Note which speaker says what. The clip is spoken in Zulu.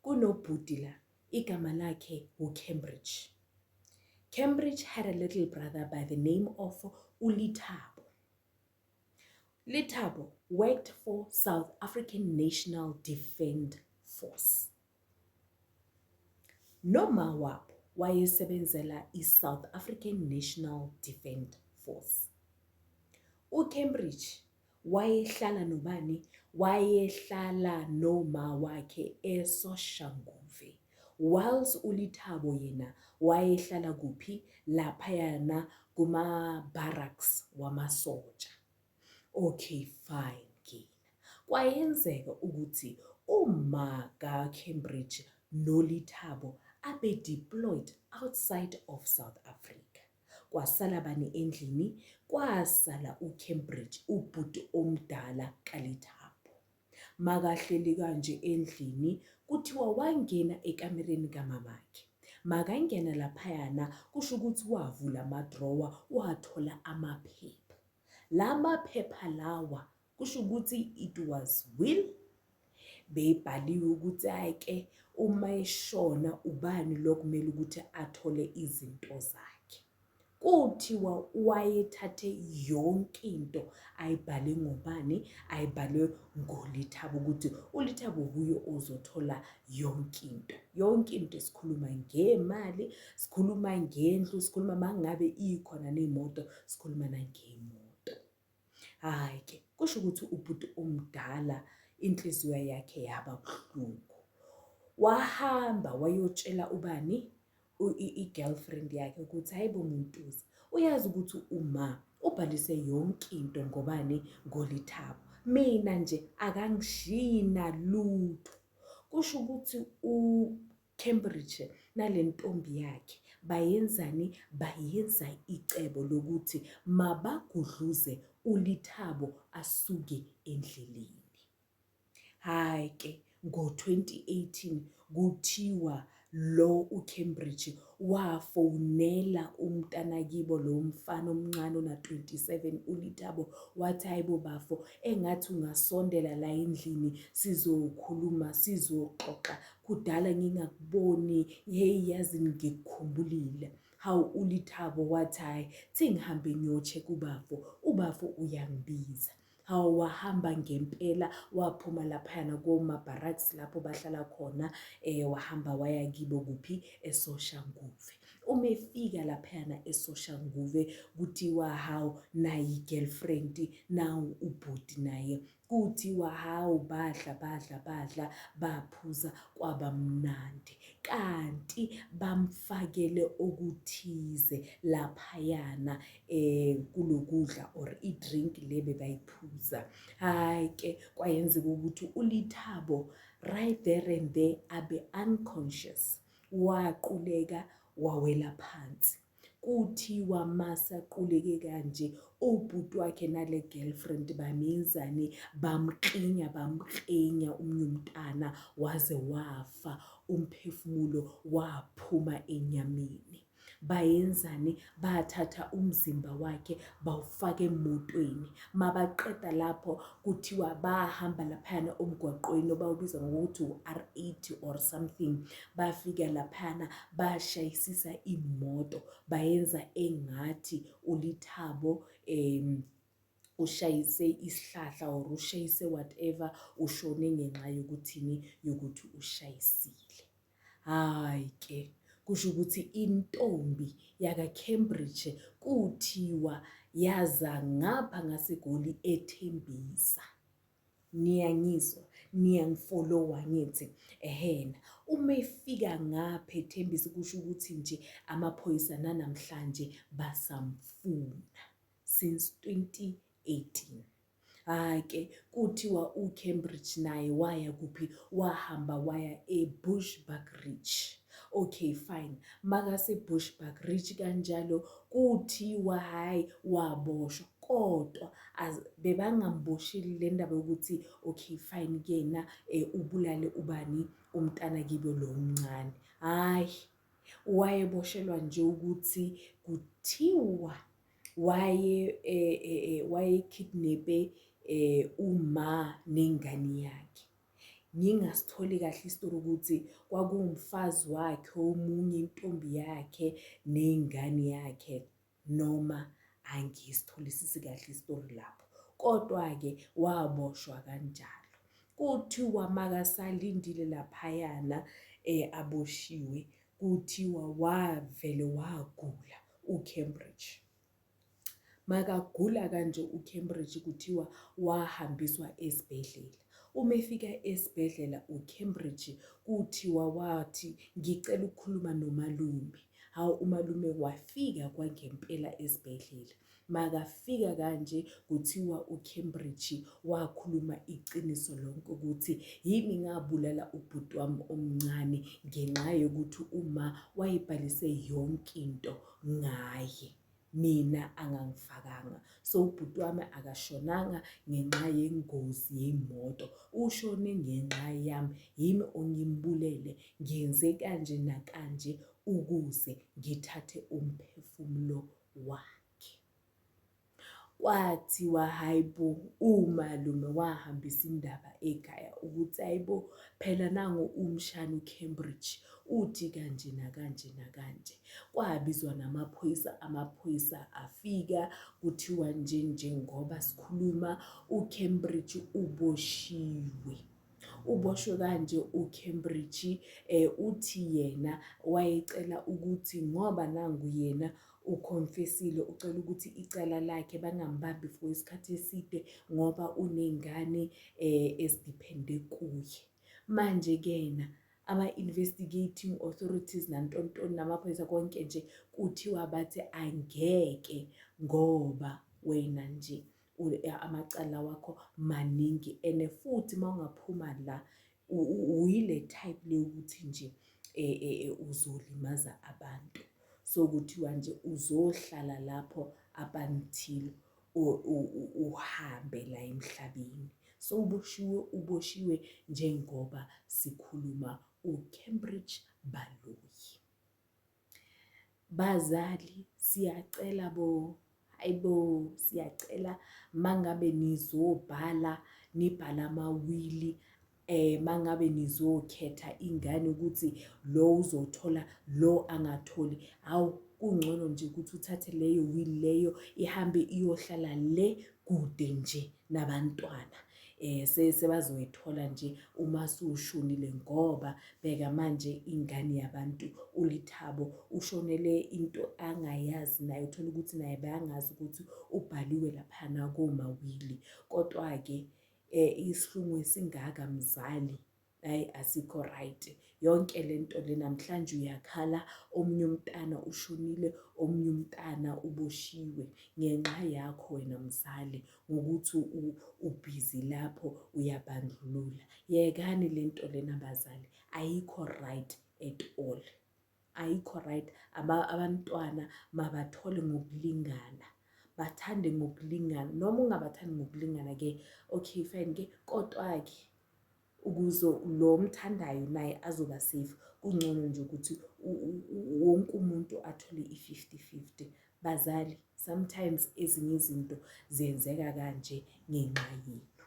Speaker 1: Kunobhuti la igama lakhe wuCambridge. Cambridge had a little brother by the name of uLithabo. Lithabo worked for South African National Defend Force. Noma wabo wayesebenzela i-South African National Defend Force. UCambridge Wayehlala nobani? Wayehlala noma wakhe eSoshanguve. Whiles uLithabo yena wayehlala kuphi? Laphayana kuma-barracks wamasotsha. Okay fine kina. Kwayenzeka ukuthi uma kaCambridge noLithabo abe-deployed outside of South Africa. Kwasala bani endlini? Kwasala uCambridge, ubhuti omdala kaLethabo. Makahleli kanje endlini, kuthiwa wangena ekamereni kamamakhe. Makangena laphayana, kusho ukuthi wavula amadrowa, wathola amaphepha. La maphepha lawa kusho ukuthi it was will beyibhaliwe ukuthi ayike uma eshona ubani lokumele ukuthi athole izinto zakhe kuthiwa wayethathe yonke into ayibhale ngobani ayibhalwe ngolithaba ukuthi ulithaba kuyo ozothola yonke into yonke into sikhuluma ngemali sikhuluma ngendlu sikhuluma mangabe ikhona nemoto sikhuluma nangemo Hhayi ke kusho ukuthi ubhuti omdala inhliziyo yakhe yaba buhlungu. Wahamba wayotshela ubani i-girlfriend yakhe ukuthi hhayi bo Muntuza uyazi ukuthi uma ubhalise yonke into ngobani ngolithabo. Mina nje akangishiyi nalutho kusho ukuthi Cambridge nale ntombi yakhe bayenzani bayenza icebo lokuthi mabagudluze uLithabo asuke endleleni. Hhayi ke ngo-2018 kuthiwa lo uCambridge wafonela umntanakibo lo mfana omncane ona-27 uLithabo wathi hhayi bo bafo engathi ungasondela la endlini sizokhuluma sizoxoxa Kudala ngingakuboni hey yazi ngikukhumbulile. Hawu uLithabo wathi hhayi sengihambe ngiyoche kubafo, ubafo uyangibiza. Hawu wahamba ngempela waphuma laphayana koma-barracks lapho bahlala khona um wahamba waya kibo kuphi esoshanguve. Uma efika laphayana esoshanguve kuthiwa hawu nayi i-girlfriend nawu ubhuti naye Kuthiwa hawu badla badla badla baphuza kwaba mnandi kanti bamfakele okuthize laphayana um kulokudla or i-drink le bebayiphuza hhayi ke kwayenzeka ukuthi ulithabo right there and there abe unconscious waquleka wawela phansi Kuthiwa masa quleke kanje obhuti wakhe nale girlfriend bamenzane bamklinya bamklinya umnyumntana waze wafa umphefumulo waphuma enyameni bayenzani bathatha umzimba wakhe bawufaka emotweni mabaqeda lapho kuthiwa bahamba laphayana omgwaqweni obawubiza ngokuthi u-R80 or something bafika laphana bashayisisa imoto bayenza engathi ulithabo um ushayise isihlahla or ushayise whatever ushone ngenxa yokuthini yokuthi ushayisile hayi ke kusho ukuthi intombi yakaCambridge kuthiwa yaza ngapha ngaseGoli ethembisa Niyangizwa? Niyangifolowa angithi? Ehena. Uma efika ngapha ethembisa kusho ukuthi nje amaphoyisa nanamhlanje basamfuna since 2018. Hhayi ke kuthiwa uCambridge naye waya kuphi? Wahamba waya eBushbuckridge. Okay fine. MakaseBushbuckridge kanjalo kuthiwa hhayi waboshwa. kodwa as bebangambosheli le ndaba yokuthi okay fine kuyena um ubulale ubani umntana kibo lo mncane hhayi wayeboshelwa nje ukuthi kuthiwa waye eh, eh, eh, wayekidnepe eh uma nengane yakhe ngingasitholi kahle isitori ukuthi kwakuwumfazi wakhe omunye intombi yakhe nengane yakhe noma angisitholisisi kahle isitori lapho kodwa-ke waboshwa kanjalo kuthiwa makasalindile laphayana um aboshiwe kuthiwa wavele wagula ucambridge makagula kanje ucambridge kuthiwa wahambiswa esibhedlela uma efika esibhedlela ucambridge kuthiwa wathi ngicela ukukhuluma nomalume Hawu umalume wafika kwangempela esibhedlela. Makafika kanje kuthiwa uCambridge wakhuluma iqiniso lonke ukuthi yimi ngabulala ubhuti wami omncane ngenxa yokuthi uma wayebhalise yonke into ngaye. mina angangifakanga so ubhuti wami akashonanga ngenxa yengozi yey'moto ushone ngenxa yami yimi ongimbulele ngenze kanje nakanje ukuze ngithathe umphefumulo wakhe kwathiwa hhayi bo umalume wahambisa indaba ekhaya ukuthi hhayi bo phela nango umshana ucambridge uthi kanje nakanje nakanje Kwabizwa namaphoyisa amaphoyisa afika kuthiwa nje njengoba sikhuluma uCambridge uboshiwe. Uboshwe kanje uCambridge eh uthi yena wayecela ukuthi ngoba nangu yena uconfessile ucela ukuthi icala lakhe bangambambi for isikhathi eside ngoba unengane eh esidiphende kuye. Manje kena ama-investigating authorities nantontoni namaphoyisa konke nje kuthiwa bathi angeke ngoba wena nje amacala wakho maningi and futhi uma ungaphuma la uyile type leyokuthi nje e, e, e, uzolimaza abantu so kuthiwa nje uzohlala lapho abanithile uhambe la emhlabeni sowuboshiwe uboshiwe njengoba sikhuluma uCambridge Baloyi bazali siyacela bo ayibo siyacela mangabe nizobhala nibhala amawili eh mangabe nizokhetha ingane ukuthi lo uzothola lo angatholi hawu kungcono nje ukuthi uthathe leyo will leyo ihambe iyohlala le kude nje nabantwana eh sebazoyithola nje uma sushonile ngoba bheka manje ingane yabantu ulithabo ushonele into angayazi naye uthola ukuthi naye bayangazi ukuthi ubhaliwe laphana komawili kodwa ke eh isihlungu esingaka mzali ayi asikho right yonke lento le namhlanje uyakhala omunye umntana ushonile omunye umntana uboshiwe ngenxa yakho wena mzali ngokuthi ubhizi lapho uyabandlulula yekani lento lena bazali ayikho right at all ayikho right abantwana mabathole ngokulingana bathande ngokulingana noma ungabathandi ngokulingana ke okay fine ke kodwa ke ukuze lo mthandayo naye azoba safe kungcono nje ukuthi wonke umuntu athole i-50-50 bazali sometimes ezinye izinto ziyenzeka kanje ngenxa yethu.